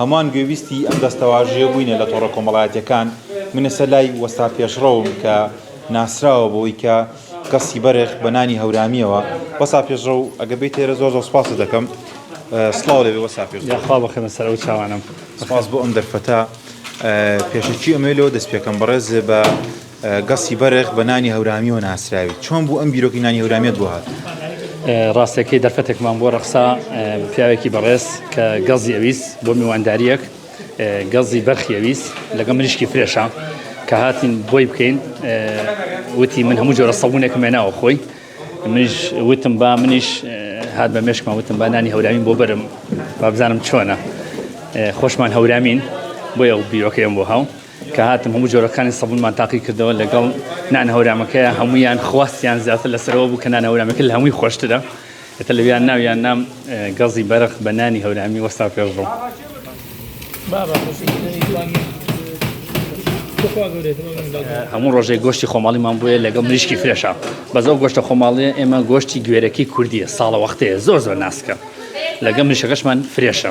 هەموان گوێبیستی ئەم دەستەواژەیە بووینە لە تۆڕە کۆمەڵایەتیەکان، منەسە لای وەستا پێشڕەوم کە ناسراوە بەوەی کە گەستی بەرخ بە نانی هەورامیەوە، وەستا پێشڕەو ئەگەر بیت ئێرە زۆر زۆر سپاست دەکەم. سڵاو لەوێ وەستا پێشڕەو. یاخوا بخەمە سەر ئەو چاوانەم. سپاس بۆ ئەم دەرفەتە پێشەکی ئەمەوێ لەوە دەست پێکەم بەڕێز بە. گەستی بەرخ بە نانی هەورامیەوە ناسراوی چۆن بوو ئەم بیرۆکی نانی هەورامیت بۆ هات؟ ڕاستەکەی دەرفەتێکمان بۆ ڕەخسا پیاوێکی بەڕێز کە گەزی ئەویست بۆ میوانداریەک گەزی بەرخی ئەویست لەگە مریشکی فرێشە کە هاتین بۆی بکەین وتی من هەموو جۆرە سەبوونێکم مێناوە خۆی منیش وتم با منیش هات بە مێشکمان وتم با نانی هەورامین بۆ بەرم بابزانم چۆنە خۆشمان هەورامین بۆ یە بیرۆکەیەم بۆ هاو کە هاتم هەموو جۆرەکانی سەبونمان تاقی کردەوە لەگەڵ نان هەورامەکەیە هەموویان خواستیان زیاتر لەسەرەوە بوو کە نان هەورامەکە لە هەمووی خۆشترە ئێتە لەویان ناویان نام گەزی بەرق بە نانی هەورامی وەستا پێشڕۆ هەموو ڕۆژێک گۆشتی خۆماڵیمان بووە لەگەڵ مریشکی فرێشە بەزەو گۆشتە خۆماڵیە ئێمە گۆشتی گوێرەکی کوردیە ساڵە وەختەیە زۆر زۆر ناسکە لەگەم مریشەکەشمان فرێشە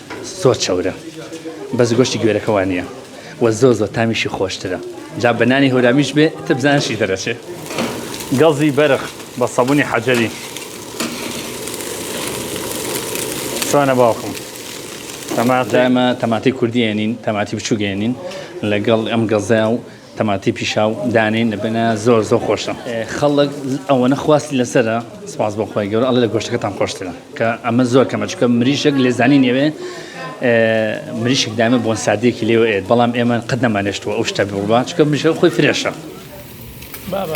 زۆر چەورە بەس گۆشتی گوێرەکە وا نییە و زۆر زۆر تامیشی خۆشترە جا بە نانی هەورامیش بێ تە بزانشی دەرەچێ گەڵزی بەرخ بە سەبوونی حەجەری سوانە باوکم تەماتە تەماتی کوردیێنین تەماتی بچووگەێنین لەگەڵ ئەم گەزە و تەماتی پیشاو دانێن لە بنە زۆر زۆر خۆشە خەڵک ئەوەنە خواستی لەسرە سپاس بۆ خۆی گەور ئەڵ لە گۆشتەکەتان خۆشترە کە ئەمە زۆر کەمە چکە مریشک لێزانی نێوێ مریشک دامە بۆن سادێکی لێوە ئێت بەڵام ئێمە قەت نەمانێشتوە ئەو شتە بڕبا چکە مریشە خۆی فرێشە بابا